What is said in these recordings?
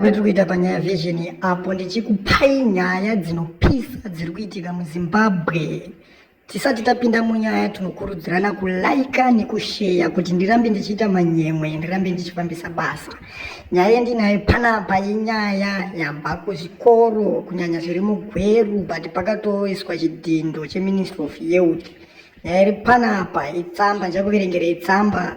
Kwatiri kuita panyaya vision apo ndichikupai nyaya dzinopisa dziri kuitika muzimbabwe tisati tapinda munyaya tinokurudzirana kulaika nekusheya kuti ndirambe ndichiita manyemwe ndirambe ndichifambisa basa nyaya yendinayo panapa inyaya yabva kuzvikoro kunyanya zviri mugweru but pakatoiswa chidhindo cheministry of youth nyaya iri panapa itsamba ndichakuverengera itsamba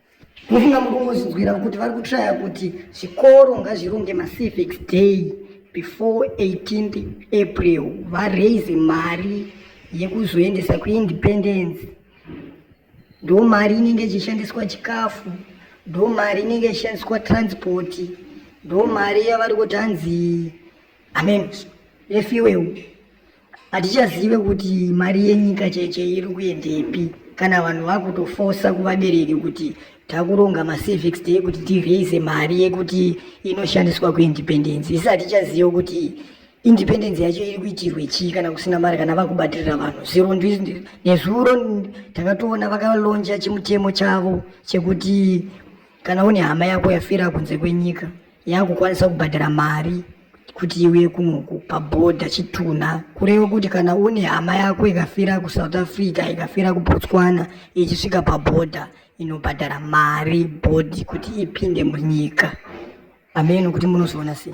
Mufunga muri kungozvinzwira kuti vari kutraya kuti zvikoro ngazvironge macivic day before 18th april varaise mari yekuzoendesa kuindependence ndo mari inenge ichishandiswa chikafu ndo mari inenge ichishandiswa transport ndo mari yavari kuti hanzi amen refiweu hatichazive kuti mari yenyika cheche iri kuendepi kana vanhu vakutofosa kuvabereki kuti takuronga macivics day kuti tiraise mari yekuti inoshandiswa kuindependence isi hatichazive kuti independence yacho iri kuitirwe chii kana kusina mari kana vakubatirira vanhu zviro nezuro takatoona vakalonja chimutemo chavo chekuti kana une hama yako yafira kunze kwenyika yakukwanisa kubhadhara mari kuti iuye kunoku pabhodha chitunha kureva kuti kana une hama yako ikafira kusouth africa ikafira kubotswana ichisvika pabhodha inobhadhara mari bhodhi kuti ipinde munyika ameno kuti munozoona sei